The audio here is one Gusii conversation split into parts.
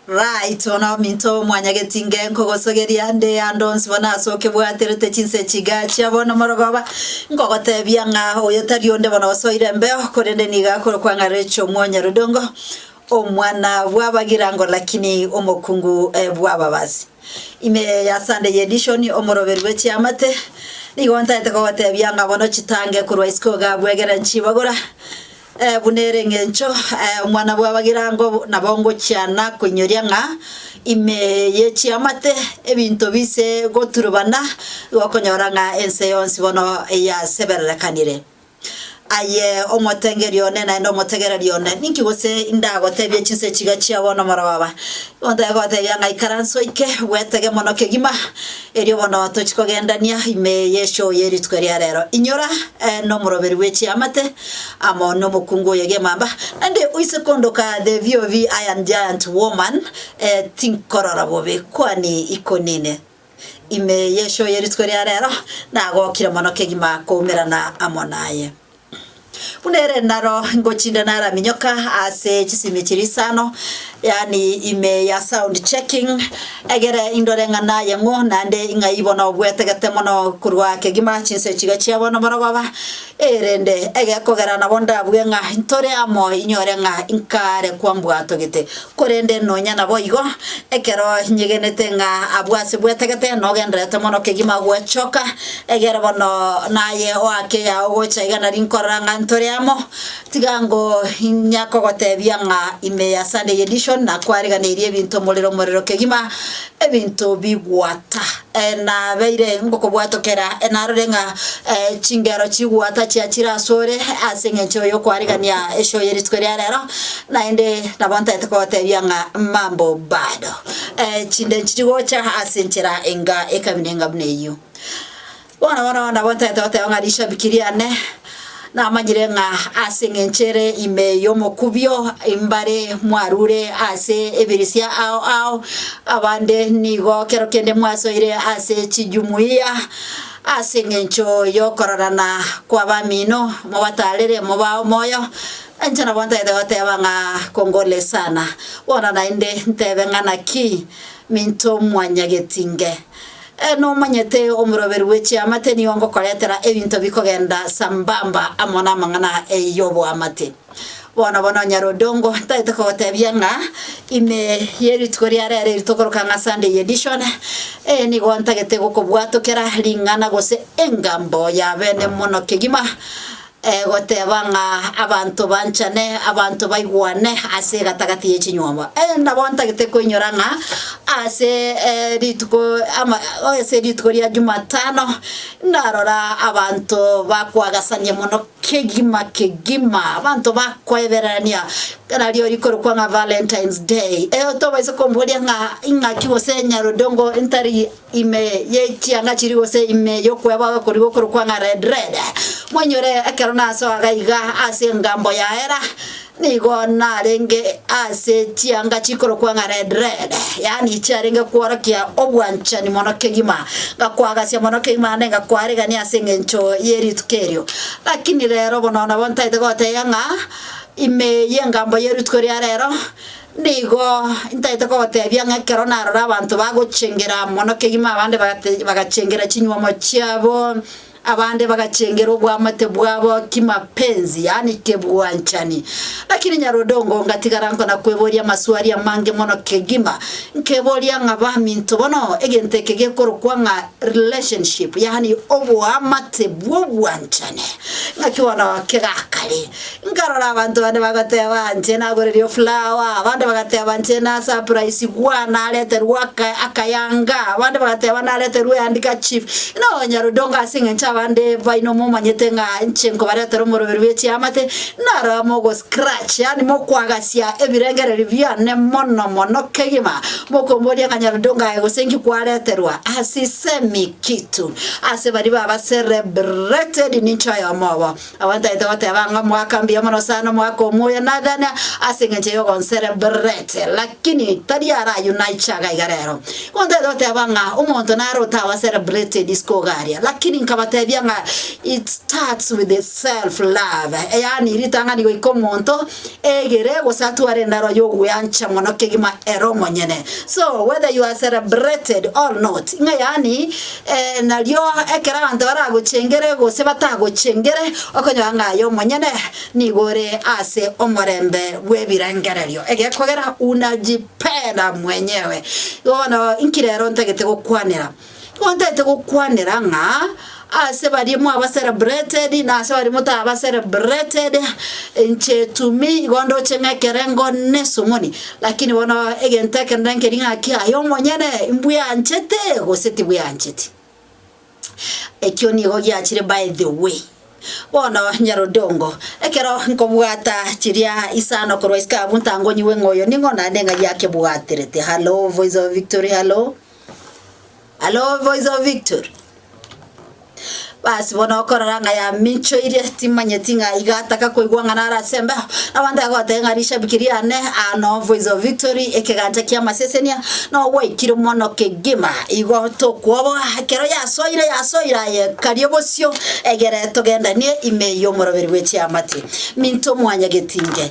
Right, bono ominto omwanyageti nge nkogosogeria nde ande onsi bono ase okebwaterete chinse chiga chia bono morogoba, nkogotebia ng'a oyo tari onde bono gose oire embeo, korende nigo akore kwang'arereche omwanyarudongo, omwana bw'abagirango lakini omokungu bw'ababasi. Ime ya Sunday edition, omoroberi bwe chiamate, nigo ntaete kogotebia ng'a bono chitange korwa isiko iga bwegere nchibagora, Buna ere engencho omwana bw'abagirango nabo ngochiana koinyoria ng'a ime ye chiamate ebinto biise goturubana, igo okonyora ng'a ense yonsi bono yasebererekanire. Aye omotengeria one naende omotegereri one, ninki gose indagotebie chinse chiga chia bono morobaba? Igo ntagete kogotebia ng'a ikaransa oike, bwetege mono kegima, Erio bono tochie kogendania ime y'enchoo ye rituko eria reero. Inyora nomoroberi bwe chiamate amo nomokungu oye gemamba, naende oise kondoka the VOV iron giant woman, tinkorora bobe kwane ikonine. Ime y'enchoo ye rituko eria reero nagokire mono kegima koumerana amo naye. Buna ere naro ngochinda naraminyoka ase chisimi chiria isano, yaani ime ya sound checking, egere indore ng'a naye ng'o naende ng'ai bono bwetegete mono korwa kegima chinsa echiga chia bono bono baba, erende egekogera nabo ndabue ng'a ntore amo inyore ng'a inkare kwambua togete. Korende nonya naboigo, ekero nyegenete ng'a abwo ase bwetegete nogendererete mono kegima gwechoka, egere bono naye oake yao gocha iga nari nkorora ng'a ntore amo, tiga ngo inyakogotebia ng'a ime ya Sunday Edition nakwariganirie ebinto morero morero kegima, Ebinto bigwata nabeire ngokobwatokera, narore ng'a chingero chigwata chia chire asore ase eng'encho y'okwaregania eshow ye rituko ria rero, naende nabo ntaete kogotebia ng'a mambo bado. Chinde nchiri gocha ase enchera enga ekamina enga buna eyio. Bono bono nabo ntaete goteba ng'a rishabiki riane namanyire ng'a ase engencho ere ime y'omokubio mbare mwarure ase ebirisia ao ao, abande nigo kero kende mwasoire ase chijumuiya ase engencho y'okororana kw'abamino mobatarere moba omoyo, nainche nabo ntaete goteba ng'a kongole sana. Bono naende ntebe ng'a naki minto mwanyagetinge? Eeh, nomanyete omoroberi bwe chiamate nigo ngokoretera ebinto bikogenda sambamba amo namang'ana y'oboamate. Bono bono Nyarodongo tagete kogotebia ng'a ime yerituko ria rero eri tokoroka ng'a Sunday edition, eeh nigo ntagete gokobwatokera ring'ana gose engambo yabene mono kegima, goteba ng'a abanto banchane, abanto baigwane ase egatagati ye chinyomba. Eeh nabo ntagete koinyora ng'a ase rituko ama ase rituko ria jumatano, narora abanto bakoagasania mono kegima kegima, abanto bakoebererania ekero ario rikorokwa ng'a valentines day, eeh tobaisa komboria ng'a ing'aki gose nyarondongo ntari. ime y'echianga chiria gose ime y'okweba okorigwa okorokwa ng'a red red. Moinyore ekero nasoa gaiga ase engambo yaera, nigo narenge ase chianga chikorokwa ng'a red red, yaani chiarenge kworokia obwanchani mono kegima, ngakwagasia mono kegima naende ngakwarigania ase eng'encho ye rituko erio. Lakini rero bono nabo ntaete gotebia ng'a ime y'engambo ye rituko ria rero, Nigo ntaete kogoteebia ng'a ekero narora abanto bagochengera mono kegima abande bagate- bagachengera chinyuomo chiabo, abande bagachengera oboamate bwabo kimapenzi, yaani kebwanchani. Lakini Nyarodongo ngatigara nkona kweboria amaswali amange mono kegima, nkeboria ng'a baminto bono egento eke gekorokwa ng'a relationship, yaani oboamate bw'obwanchani, ng'aki bono kegakare? Nkarora abanto bande bagoteeba inche nagorerie ofulawa, abande bagateeba inche nasapuraisigwa nareterwe aka akayanga, abande bagateeba nareterwe ehandika chief. Ng'a nonya rodongo ase eng'encho abande baino momanyete ng'a inche nkobaretera omoroberi bwe chiamate, naro mogo scratch yaani mokwagasia ebirengererio biane mono mono kegima, mokomboria ng'a nyarodongo aye gose inki kwareterwa, asisemi kitu. Ase baria baba celebrated ninche oyomo obo. Abantaete goteba ng'a omwaka mbuya mono sana, omwaka omoya, nagana ase engencho y'ogonserebrete, lakini tari ara ayio naiche iga iga rero. Igo ntaete goteba ng'a omonto naro otabaserebreti edisco iga aria, lakini nkabatebia ng'a it starts with the self love, yaani ritang'ani goika omonto. egere gose atware endaro y'ogweancha mono kegima ere omonyene so whether you are celebrated or not ng'a yaani eh, nario ekero abanto baragochengere gose batagochengere okonyora ng'a aye omonyene nigo ore ase omorembe bw'ebirengererio egekogera unajipenda mwenyewe bono inki rero ntagete gokwanera Tibwantaete gokwanera ng'a ase baria mwabacelebrated na ase baria motabacelebrated, inche to me igo ndoche ng'a ekerengo na esomoni, lakini bono egento ekerende nkeria ng'a ki aye omonyene mbweanchete gose tibweancheti. Ekio nigo giachire by the way. Bono Nyarodongo, ekero nkobwata chiria isano korwa isiko abwo ntangonyigwe ng'a oyo ning'o naende ng'ai akebwaterete. Hallo voice of victory hallo. Halo voice of victory. Basi bono okorora ng'a yaminchoire timanyeti ng'a iga ataka koigwa ng'a nara ase embeho abanto agoteba ng'a rishabiki riane ano voice of victory ekegancha kia masesenia no gwaikire mono kegima igo tokwoboa ekero yasoire yasoire aye karia bosio egere togendanie ime y'omoroberi bwe chiamati minto mwanya getinge.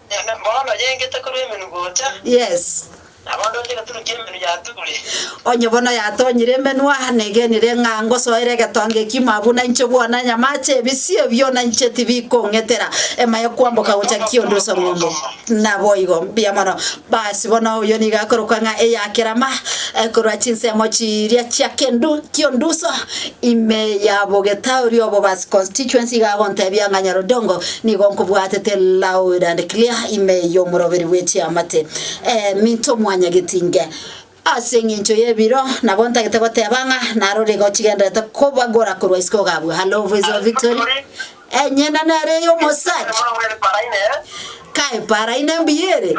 Bono oyengete korwa emenwa gocha. Yes. Nabo ndoche egetunwa ki'emenwa ya Turi. Onye bono yatonyire emenwa, negenire ng'a ngosoera egetonga ekimo abwo na inche bwona nyamache ebisio biona inche tibikong'etera emaye kwamboka gocha kiondo osong'ombo. Naboigo mbuya mono. Basi bono oyo nigo akorokwa ng'a eya kerama, korwa chinsemo chiria chia kendu, kionduso, Ime ya Bogetauri obo Basi Constituency igagontebia ng'a Nyarodongo nigo nkobwatete loud and clear ime y'omoroberi bwe chiamate. Eminto mwanyageti inge. Ase eng'encho y'ebiro nabo ntagete goteba ng'a narore igo chigenderete kobagora korwa isiko ogabua Hallo Voice of Victory enyene nere ey'omosacha kae paraine mbuya ere.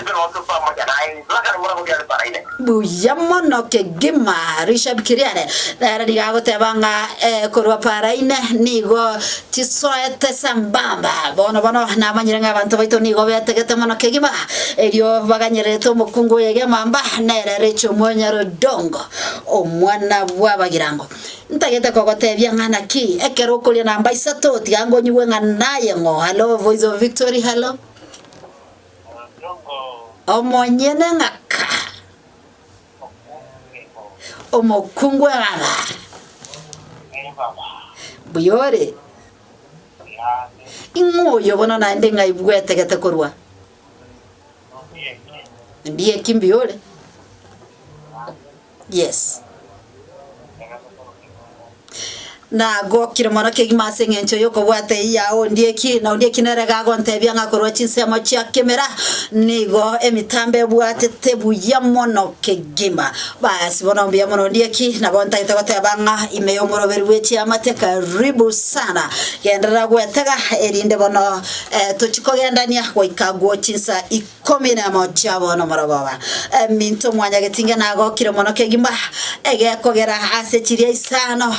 Ekero onsi otoa mochie naye inse, akare ngora gokira riparaine. Buya mono kegima Richard Kiriare nere nigo agoteba ng'a eh, korwa paraine nigo chisoete sambamba. Bono bono namanyire ng'a abanto baito nigo betegete mono kegima erio baganyererete omokungu oye gemamba nere Rachel Mwonyara Odongo omwana bw'abagirango. Ntagete kogotebia ng'a naki ekero okoria namba isato tiga ngonyigwe ng'a naye ng'o. Hallo voice of victory hallo. Omonyene ng'aka, omokungu bw'ebaba, mbuya ore. Ing'o oyo bono naende ng'aigwete gete korwa? Ndieki mbuya ore. Yes. Nagokire mono kegima ase eng'encho y'okobwata eyio yao ondieki, na ondieki nere iga agontebia ng'a korwa chinsemo chia kemera nigo emitambo ebwatete buya mono kegima. Basi bono mbuya mono ondieki, nabo ntagete goteba ng'a ime y'omoroberi bwe chiamate karibu sana. Genderera gwetega erinde bono eh, tochi kogendania goika agwo chinsa i- Komi nemo chia bono omorogoba, eminto mwanya getinga nagokire mono kegima, egekogera ase chiria isano,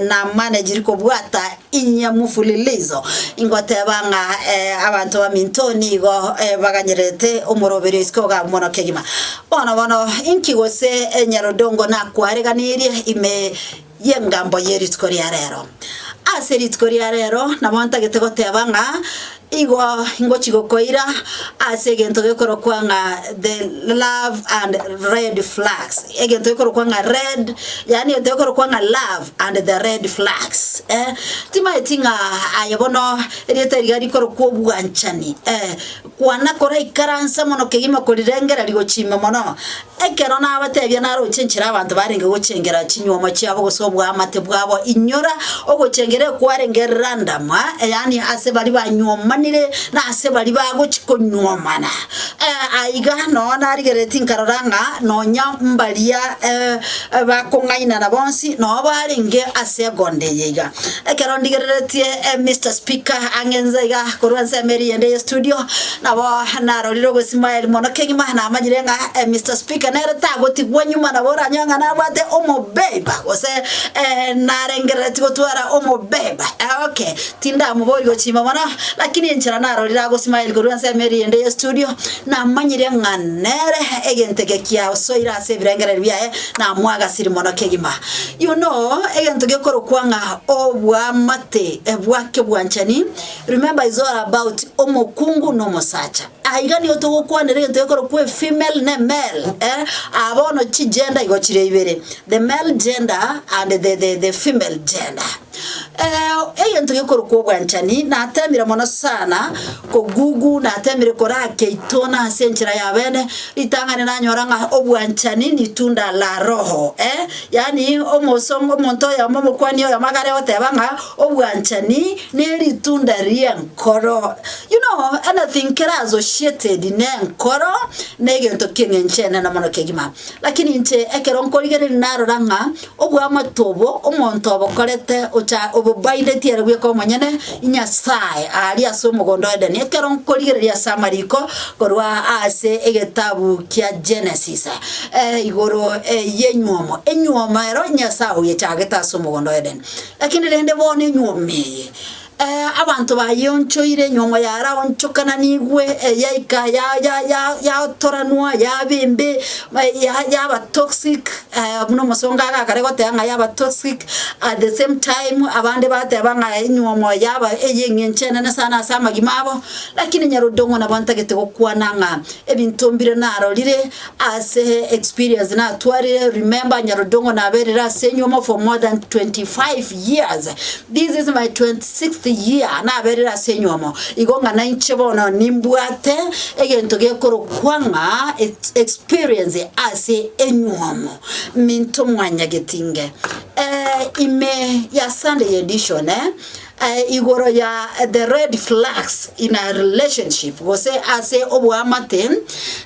namane chiri kobwata inye mufulilizo, ingoteba ng'a abanto baminto nigo baganyererete omoroberio isiko ogabu mono kegima. Bono bono, inki gose enyarondongo nakwareganerie ime? y'engambo ye rituko ria reero. Ase rituko ria reero nabo ntagete goteba ng'a igo ingochi gokoira ase egento gekorokwa ng'a the love and red flags, egento gekorokwa ng'a red yaani egento gekorokwa ng'a love and the red flags eh. Timanyeti ng'a aye bono erieta riria rikorokwa obwanchani eh, kwana koraikaransa mono kegima korirengera rigochima mono. Ekero nabateebia naroche enchera abanto barenge gochengera chinyuomo chiabo gose oboamate bwabo, inyora ogochengera ekwarenge random, yaani ase baria banyuomanire na ase baria bagochia konyuomana. Eh, aiga noo narigeretie nkarora ng'a nonya mbaria bakong'ainana bonsi noo barenge ase egondo eye iga. Ekero ndigereretie Mister Speaker ang'e inse iga korwa ensemo eria eyende y'estudio. Nabo narorire obw'Ismael mono kegima namanyire ng'a Mister Speaker nere tagotigwa nyuma nabo oranyore ng'a nabwate omobemba gose narengerereti gotwara omobemba okay tindamobori gochimba mono lakini enchera narorire agosmile korwa ase emeri ende ye studio namanyire ng'a nere egento eke kiasoire ase ebirengererio biaye namwagasiri mono kegima. You know egento gekorokwa ng'a obwamate bwake bwanchani. Remember is all about omokungu na omosacha. Aa iga nigo togokwanera egento gekorokwa efemale na emale eh? Aa bono chigender igo chire ibere, the male gender and the, the, the female gender. Eh, egento gekorokwa obwanchani natemire mono sana kogugu natemire koraka itona ase enchera ya bene ritang'ani nanyora ng'a obwanchani ni tunda la roho eh? Yaani omosom omonto oyomo omokwani oyomo iga are goteba ng'a obwanchani neritunda ri'enkoro. You know, anything kere associated nenkoro, negento ki'eng'ench'enene mono kegima. Lakini inche ekero nkorigereria narora ng'a oboamate obo omonto obokorete ocha obobindetie ere bweka omonyene Nyasaye aria ase omogondo Edeni, ekero nkorigereria ase amariko korwa ase egetabu kia Genesis igoro y'enyuomo, enyuomo ero Nyasaye oyechagete ase omogondo Edeni. Lakini rende bono enyuoma eye, abanto bayeonchoire, enyuoma yaraonchokananigwe, yaika yaotoranwa, yaba embe, yaba toxic, buna omosongo agakare goteba ng'a yaba toxic, at the same time abande bateba ng'a enyuomo yaba eyeng'encho enene sana ase amagima abo, lakini Nyarodong'o nabo ntagete gokwana ng'a ebinto mbire narorire. Ase experience natwarire remember Nyarudongo naberire ase enyuomo for more than 25 years this is my 26th year naberire ase enyuomo igo ng'a nainche bono nimbwate egento gekorokwa ng'a ex- experience ase enyuomo minto mwanyagetinge eh, ime ya Sunday edition eh, igoro ya the red flags in a relationship gose ase oboamate,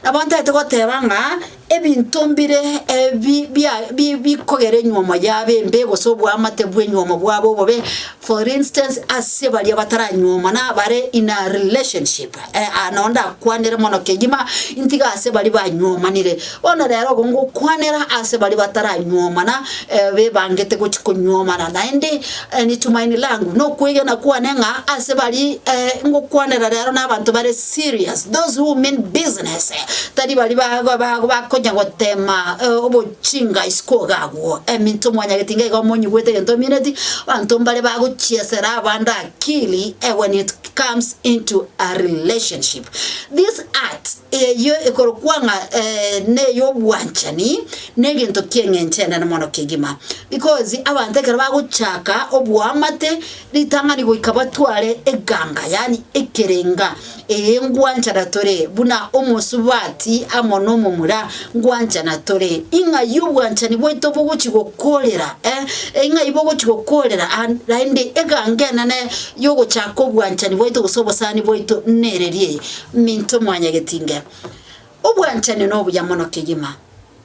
nabo ntaete goteba ng'a ebinto mbire ebi bia bi bikogera enywomo yabo embe gose oboamate bwa enywomo bwabo obobe, for instance ase baria bataranyuomana bare in a relationship. Aa, nao ndakwanere mono kegima ntiga ase baria banywomanire. Bono rero obo ngokwanera ase baria bataranyuomana, eh, bebangete gochi konyuomana. Naende ni tumaini langu, na okwegena kwane ng'a ase baria eh, ngokwanera rero nabanto bare serious, those who mean business, tari baria ba- ba- ba- bakonya gotema eh, obochinga isiko iga agwo. Eminto mwanyageti iga iga omonyigwete egento omineti, abanto mbare bagochiesera abande akili, ewe nit. comes into a relationship. This art eyio ekorokwa ng'a eh, ney'obwanchani negento ki'eng'encho enene mono kegima because abanto ekero bagochaka oboamate ritang'ani goika batware eganga yani ekerenga eyengwanchana tore buna omosubati amo nomomura Gwanchana tore, ing'ai obwanchani bwaito bogochia gokoorera, eh, ing'ai bogochia gokoorera an, naende eganga enene y'ogochaka obwanchani bwaito gose obosani bwaito nereria eye, Minto Mwanyagetinge, obwanchani nobuya mono kegima.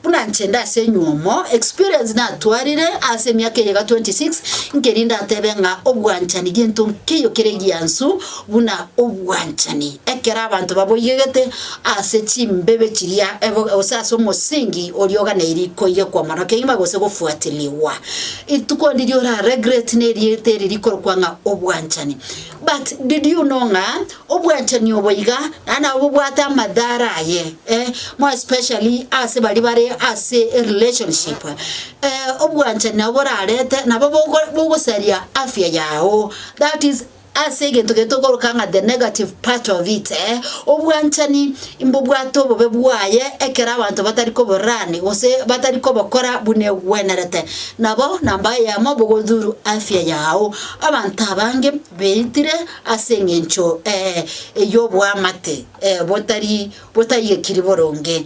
Buna inche inde ase enywomo, experience natwarire ase emiaka eye iga 26, nkeria indatebe ng'a obwanchani gento nkeiyo kere egiansu, buna obwanchani, ekero abanto baboigegete ase chimbebe chiria ebo, gose ase omosingi oria oganeirie koigekwa mono kegima gose gofuatirigwa. Rituko ndiria ora regret nerieta eri rikorokwa ng'a obwanchani. But did you know ng'a obwanchani obo iga naende nabo bobwate amadhara aye eh, more especially ase baria bare ase erelationship. Eh, obwanchani nabo borarete nabo bogo bogosaria afya yago that is. Ase egento keria tokoroka ng'a the negative part of it, obwanchani mbobwate obobe bwaye ekero abanto batari koborani gose batari kobokora buna egwenerete. Nabo namba eyemo bogodhuru afya yao. Abanto abange beitire ase eng'encho ey'oboamate botari botaigekiri boronge.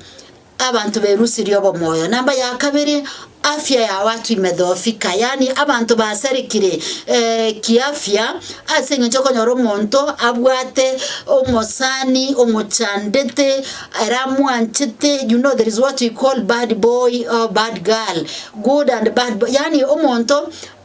Abanto berusirie obomoyo. Namba ya kabere, afya ya watu imedhoofika, yaani abanto basarekire eh, kiafya ase eng'encho okonyora omonto abwate omosani omochandete ere amwanchete you know there is what we call bad boy or bad girl good and bad boy yaani omonto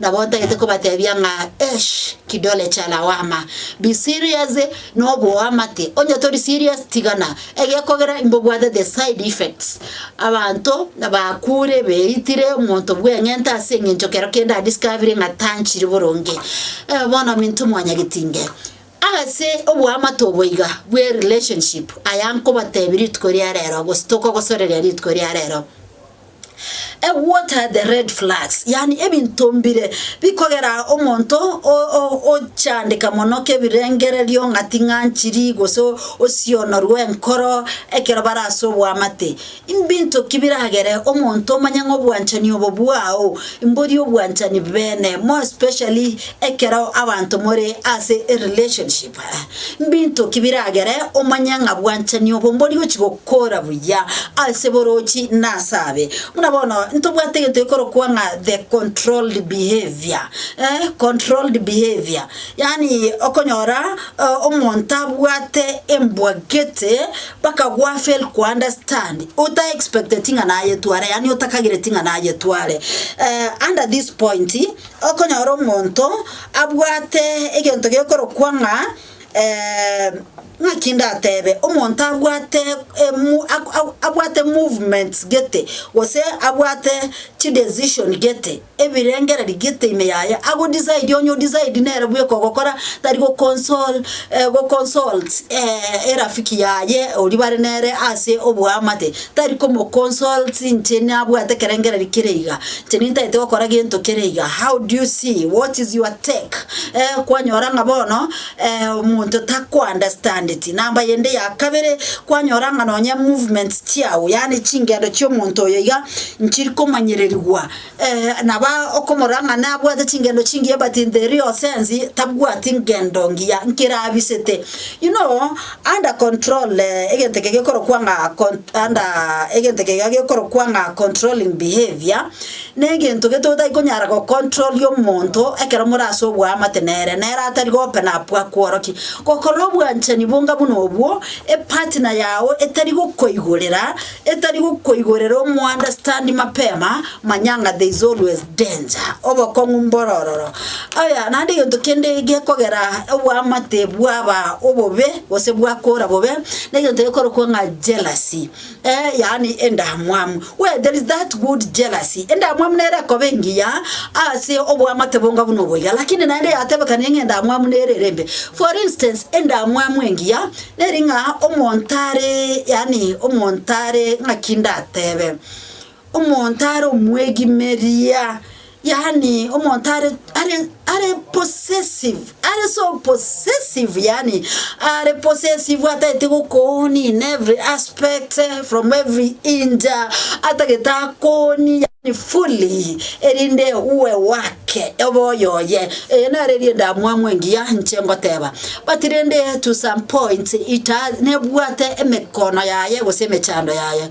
Nabo ntagete kobatebia ng'a esh, kidole cha lawama, be serious noboamate, onye tori serious tigana egekogera imbobwatete side effects. Abanto bakure beitire omonto bweng'enta ase eng'encho kero kende a discovering ng'a tanchiri boronge. Eh, bono minto mwanyagetinge. Ase oboamate obo iga bwe relationship, aya nkobatebia rituko ria rero gose tokogosoreria rituko ria rero. Eh, what are the red flags? Yani ebinto mbire bikogera omonto o- o- ochandeka mono kebirengererio ng'a ting'anchiri gose o- osionorwe enkoro ekero bare ase oboamate. Mbinto ki biragere omonto omanye ng'a obwanchani obo bwao mbori obwanchani bene more especially Ekero abanto more ase erelationship, mbinto ki biragere omanye ng'a bwanchani obo mbori gochi gokora buya ase borochi na ase abe? Buna bono ntobwate egento gekorokwa ng'a the controlled behaviour, eh, controlled behaviour. Yaani okonyora omonto abwate embwagete mpaka gwa fail ko understand, ota expecteti ng'a nayetware yaani otakagireti ng'a nayetware. Under this point. Okonyora omonto abwate egento gekorokwa ng'a ng'aki ndatebe, omonto abwate emo ak ak abwate movements gete, gose abwate chidecision gete, ebirengereri gete ime yaye, agodisaidi onye odisaidi nere bweka ogokora tari gokonsol gokonsult erafiki yaye oria bare nere ase oboamate. Tari komoconsults inche nabwate ekerengererio kere iga, inche nintaete gokora gento kere iga, how do you see, what is your take? Eh, kwanyora ng'a bono omonto takounderstandeti. Namba yende ya kabere, kwanyora ng'a nonye movements chiao, yaani chingendo chi'omonto oyo iga, nchiri komanyererigwa Naba okomorang'ana abwate chingendo chingiya but in the real sense tabwati ngendo ngiya nkere abisete. You know under control egento eke gekorokwa ng'a under egento eke gekorokwa ng'a controlling behaviour, negento gete otai konyara gocontroria omonto ekero more ase oboamate nere, nere atari go-open up akworokie. Gokora obwanchani bonga buna obwo, epartner yago etari gokoigorera. etari gokoigorera omounderstand mapema manyanga there is always danger obokong'u mborororo aya naende egento kende gekogera oboamate bwaba obobe gose bwakora bobe na egento gekorokwa ng'a jealousy eh yaani endamwamu where there is that good jealousy endamwamu nere ekoba engiya ase oboamate bonga buna obo iga lakini naende yatebekanire ng'a endamwamu nere ere embe for instance endamwamu engiya. Neri ng'a omonto are, yaani omonto are ng'aki ndatebe, omonto are omwegimeria, yaani omonto are are are possessive, are so possessive yaani are possessive atagete gokoonia in every aspect from every inch, atagete akoonie yaani fully erinde uwe wake obe oyoye. Eye naro erienda mwamwe engiya inche ngoteba. But rende to some points it has nebwate emekono yaye gose emechando yaye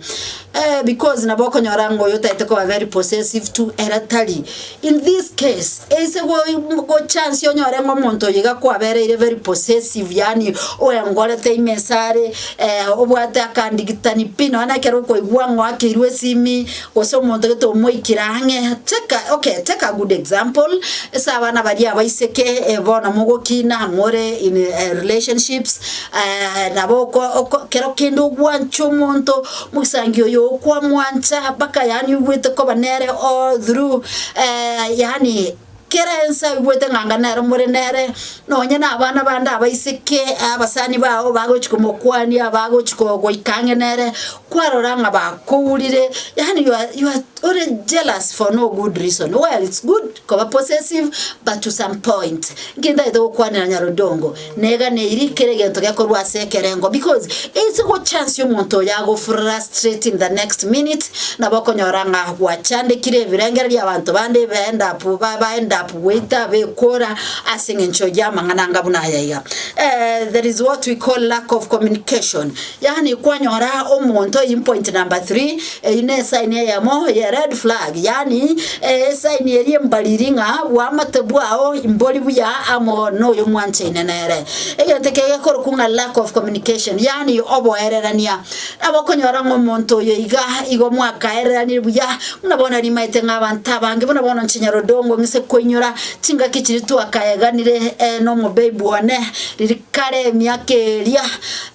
eh, because nabo okonyora ng'a oyo otaete koba very possessive to era tari in this case eise go- gochansi onyore ng'a omonto oyo iga kwabereire very possessive yani oengorete ime esare eh, obwate akandigitani pi nonye na ekero okoigwa ng'a oakeirwe esimi Gose omonto gete omoikire ang'e, take a, okay, take a good example, ase abana baria abaiseke, eh, bono mogokina, more in eh, relationships, eh, nabo oko oko kero kende ogwanche omonto, mogisangi oyo okwamwancha mpaka yaani oigwete koba nere all through, eh, yaani. Kera ense aigwete ng'a anga nere more nere, nonye nabana bande abaiseke, abasani bao bagochi komokwania, bagochi ko- goika ang'e nere, kwarora ng'a bakourire, yaani you are- you are ore jealous for no good reason. Well it's good koba possessive but to some point, nki ntagete gokwanera Nyarodongo. Neganeirie kera egento gekorwa ase ekerengo because it's go chance omonto oyo agofurera straight in the next minute nabo okonyora ng'a gwachandekire ebirengererio bia abanto bande ebe end up ba ba end up goita bekora ase eng'encho y'amang'ana anga buna aya iga. Eh, there is what we call lack of communication. Yaani kwanyora omonto eyio ni point number three, eyio ne esaini eyemo ye red flag, yaani esaini eria embariri ng'a boamate bwao mbori buya amo noyo mwanchaine nere. Egento ekio gekorokwa ng'a lack of communication, yaani oboererania. Nabo okonyora ng'a omonto oyo iga igo mwakaereranire buya, buna bono rimaete ng'a abanto abange buna bono inche Nyarodongo ng'ise koinyora chingaki chiria twakaeganire ere na omobabe one, riria. kare emiaka eria,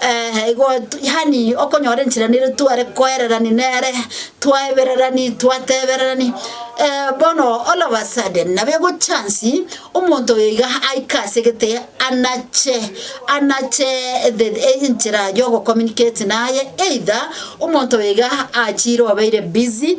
eh, igo tu yaani okonyora enchera niria tware koererani nere, twaebererani, twatebererani, eh, bono all of a sudden nabo egochance omonto oyo iga aike ase gete anache anache the enchera yogo communicate naye either omonto oyo iga achire obeire busy.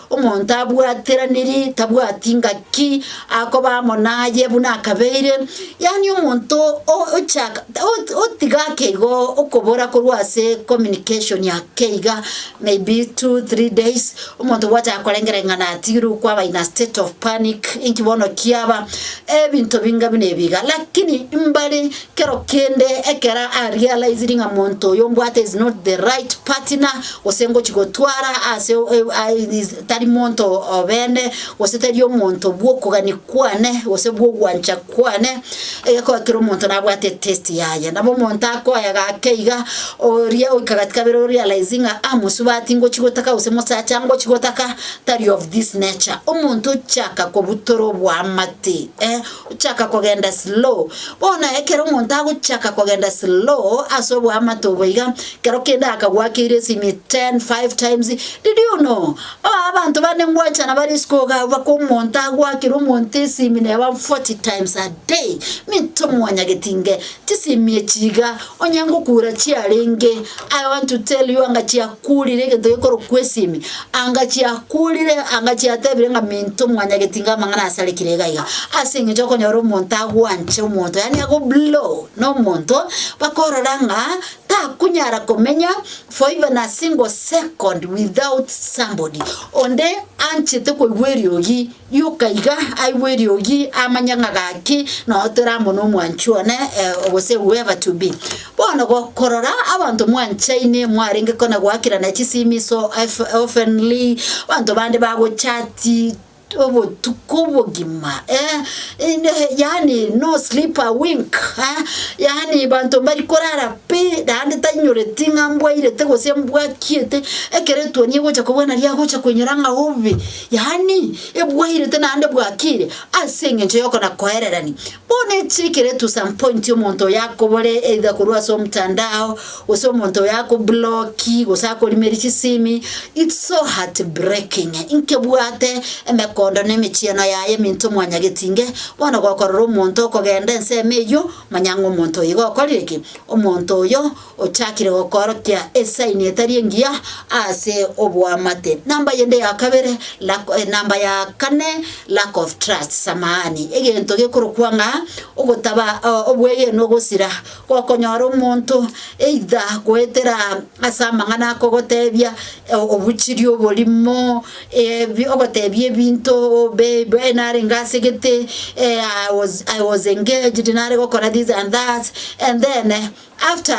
Omonto abwateraniri tabwati ngaki akoba amo naye buna akabeire, yaani omonto o- ochaka ot- otiga ake igo okobora korwa ase communication ake iga maybe two, three days, omonto gwachaka korengereng'ana atigirwe kwaba in a state of panic, inki bono kiaba, ebinto binga buna ebi iga. Lakini mbare. Kero kende ekero a realized ng'a monto oyo mbwate is not the right partner gose ngochi gotwara ase tari monto obene gose tari omonto bw'okogani kwane gose bw'ogwancha kwane egekogera kera omonto nabwate taste yaye. Nabo omonto akoye gake iga oria oika gati kabere o realize ng'a ah mosubati ngochi gotaka gose mosacha ngochi gotaka tari of this nature omonto ochaka kobutora oboamate eh. Gochaka kogenda slow. Bono ekero omonto agochaka kogenda slow ase oboamate obo iga, kero kende akagwakeire esimi ten, five times, did you know? Oh abanto bande ngwanchana bare isiko iga abako omonto agwakire omonto esimi neba forty times a day, minto mwanyageti inge chisimi echi iga, Onye ngokuura chiarenge, I want to tell you anga chiakuurire egento gekorokwa esimi, anga chiakuurire, anga chiatebire ng'a minto mwanyagetinga amang'ana asarekire iga iga, ase eng'encho okonyora omonto agwanche omonto yaani ago blow na omonto, bakorora ng'a takunyara komenya for even a single second without somebody onde anchete koigwa eriogi. Rioka iga aigwe eriogi, amanye ng'a gaki nonya toramone omwanchi one, eh, gose whoever to be. Bono gokorora abanto mwanchaine, mwarenge kona goakirana chisimi so efe oftenly, abanto bande bagochati obotuko obogima, eh, inde yaani no sleep a wink, eh, yaani banto mbari korara pi, naende tainyoreti ng'a mbwairete gose mbwakiete, ekero etuoni egocha kobwana riagocha koinyora ng'a obe. Yaani, ebwairete naende bwakiire ase engencho y'okona koererania. Bono echi ekere to some point omonto oyo akobore either korwa ase omtandao, gose omonto oyo akobloki, gose akorimeri chisimi, it's so heartbreaking. Inke bwate emekondo na emechieno yaye eminto mwanyageti inge, bono gokorora omonto okogenda ensemo eyio, manya ng'a omonto oyo iga okorire ki? Omonto oyo Ochakire gokoorokia esaini etari engiya ase oboamate. Namba yende ya kabere, lack, eh, namba ya kane, lack of trust, samahani, egento gekorokwa ng'a ogotaba o- obwegenu ogosira, gokonyora omonto either goetera ase amang'ana akogotebia eh, obuchiri oborimo, ebi ogotebia ebinto babe narenge ase gete, eh, I was I was engaged nare gokora this and that, and then. After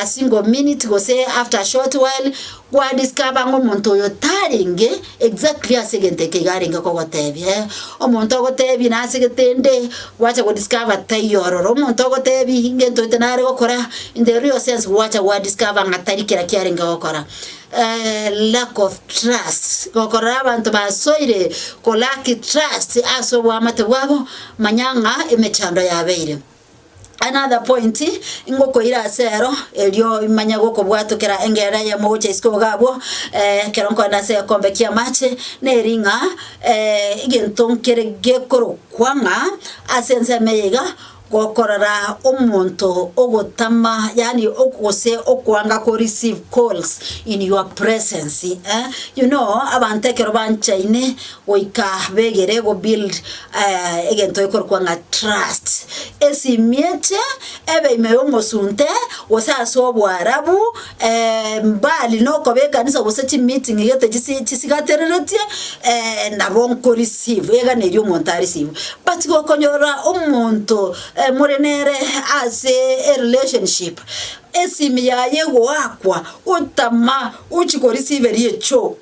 a single minute gose after a short while, gwa discover ng'a omonto oyo tarenge exactly ase egento eke iga arenge kogotebia. Eeh, omonto ogotebie nase gete inde, gwacha go discover taiyo ororo. Omonto ogotebie ngento ete nare gokora, in the real sense gwacha gwa discover ng'a tari kera kiarenge gokora. Lack of trust, gokorora abanto basoire ko lack trust ase oboamate bwabo, manya ng'a emechando yabeire. Another point ngokoira ase ero, erio imanye gokobwatokera engerera eyemo gocha isiko iga abwo, ekero nkorenda ase egekombe ki'amache, neri ng'a egento nkere gekorokwa ng'a ase ensemo eye iga, gokorora omonto ogotama yaani ogo gose okoanga ko receive calls in your presence, you know abanto ekero banchaine. goika begere go build egento gekorokwa ng'a trust, esimieche ebe ime y'omosunte gose ase oboarabu mbali na okoba ekanisa gose chimeeting gete chisi chisigatereretie nabo nko receive iga neri omonto a receive. But gokonyora omonto more nere ase erelationship esimi yaye egoakwa otama ochi korisiveria echoo.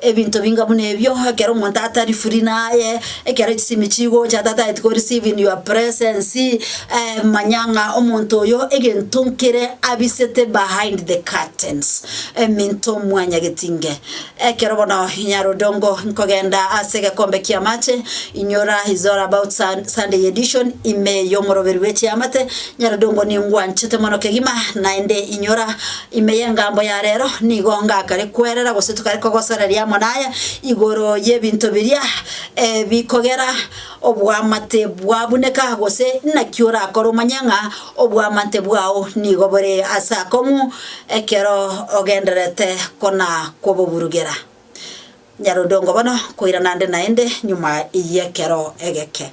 Ebinto binga buna ebio, ekero omonto atari free naye, ekero chisimi chigocha ata tari ko receive in your presence, manya ng'a omonto oyo egento nkere abisete behind the curtains, eminto mwanyageti inge. Ekero bono Nyarodongo nkogenda ase egekombe ki'amache, inyora is all about sun Sunday edition, ime y'omoroberi bw'echiamate, Nyarodongo niye ngwanchete mono kegima, naende inyora. Ime y'engambo ya reero nigo ngakare kwerera gose tokare kogosoreria amo naya igoro y'ebinto biria bikogera oboamate bwabuneka, gose naki orakore omanye ng'a oboamate bwao nigo bore ase akong'u ekero ogendererete kona-koboburugera. Nyarondongo bono, koirana nde naende nyuma y'ekero egeke.